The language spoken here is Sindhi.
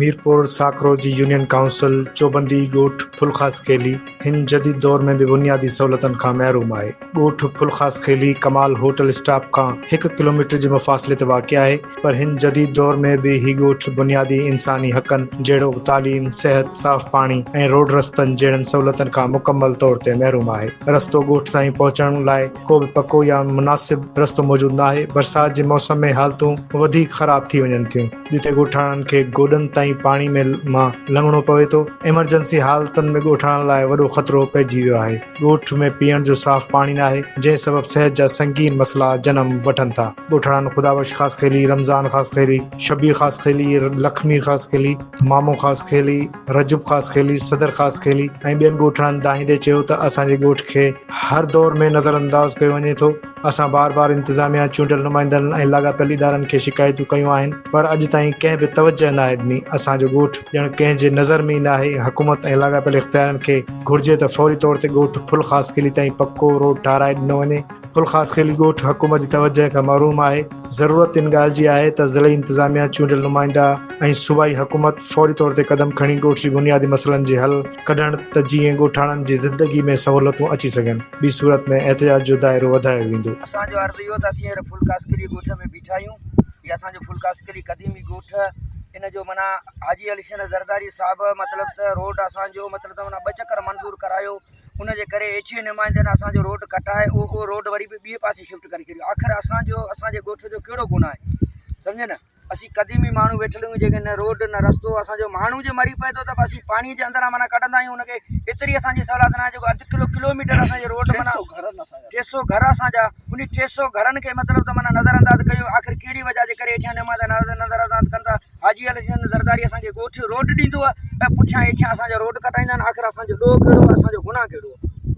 ميرپور ساڪرو جي يونين ڪائونسل چوبندي ڳوٺ ڦل خاص خيلي هن جديد دور ۾ به بنيادي سهولتن کان محروم آهي. ڳوٺ ڦل خاص خيلي ڪمال هوٽل اسٽاپ کان هڪ ڪلوميٽر جي مفاصلي تي واقع آهي. پر هن جديد دور ۾ به هي ڳوٺ بنيادي انساني حقن جهڙوڪ تعليم، صحت، صاف پاڻي ۽ روڊ رستن جهڙن سهولتن کان مڪمل طور تي محروم آهي. رستو ڳوٺ تائين پهچڻ لاء ڪو به پڪو يا مناسب رستو موجود ناهي. برسات جي موسم ۾ حالتون وڌيڪ خراب ٿي وڃن ٿيون جتي ڳوٺاڻن کي گوڏن تائين پاڻي ۾ مان لنگهڻو پوي ٿو. ايمرجنسي حالتن ۾ ڳوٺاڻن لاء وڏو خطرو پئجي ويو آهي. ڳوٺ ۾ پيئڻ جو صاف پاڻي ناهي، جنهن سبب صحت جا سنگين مسئلا جنم وٺن ٿا. ڳوٺاڻن خدابخش خاصخيلي، رمضان خاصخيلي، شبير خاصخيلي، لک مير خاصخيلي، مامو خاصخيلي، رجب خاصخيلي، صدر خاصخيلي ۽ ٻين ڳوٺاڻن دانهيندي چيو ته اسان جي ڳوٺ کي هر دور ۾ نظرانداز ڪيو وڃي ٿو، اسان بار بار انتظاميا، چونڊيل نمائندن ۽ لاڳاپيل ادارن کي شڪايتون ڪيون آهن پر اڄ تائين ڪنهن به توجهه ناهي ڏني، اسان جو ڳوٺ ڄڻ ڪنهن جي نظر ۾ ئي ناهي، حڪومت ۽ لاڳاپيل اختيارين کي گهرجي ته فوري طور تي ڳوٺ ڦل خاصخيلي تائين پڪو روڊ ٺاهرائي ڏنو وڃي، ڦل خاصخيلي ڳوٺ حڪومت جي توجهه کان محروم آهي، ضرورت ان ڳالهه جي آهي ته ضلعي انتظاميا، چونڊيل نمائندا ۽ صوبائي حڪومت فوري طور تي قدم کڻي ڳوٺ جي بنيادي مسئلن جي حل ڪڍڻ ته جيئن ڳوٺاڻن جي زندگي ۾ سهولتون اچي سگهن. ٻي صورت ۾ احتجاج جو دائرو وڌايو ويندو. اسان جو عرض اهو ته اسين هينئر ڦل ڪاسڪلي ڳوٺ ۾ بيٺا آهيون. هي اسان جو ڦل ڪاسڪلي قديمي ڳوٺ ان جو معنيٰ حاجي علي حسين زرداري صاحب مطلب ته روڊ اسان جو مطلب ته معنيٰ ٻه چڪر منظور ڪرايو ان جي ڪري ايڇ اي نمائندن اسان جو روڊ ڪٽائي اهو روڊ وري به ٻئي پاسي شفٽ ڪري ڇڏيو آخر اسان جو اسان جي ڳوٺ جو ڪهڙو گناهه آهي سمجهيو نه اسين قديمي ماڻهو ويٺل آهيون جيڪي نه روڊ نه رستو اسان جو ماڻهو جي مري پئي ٿو ته اسين پاڻي جي اندران معنيٰ ڪڍندا آهيون ان کي ايتري اسانجي سولات ناهي جيڪو اڌ ڪلو ڪلوميٽر اسانجي روڊ معنيٰ ٽي سو گهر اسانجا ان ٽي سو گهرن کي مطلب ته معنيٰ نظر انداز ڪيو آخر ڪهڙي وجه جي ڪري هيٺيان نماز نظر انداز ڪن ٿا حاجي علي حسين زرداري اسانکي ڳوٺ روڊ ڏيندو آهي ۽ پٺيان هيٺيان اسانجا روڊ ڪٽائيندا آهن آخر اسانجو ڏوهه ڪهڙو آهي اسانجو گناهه ڪهڙو آهي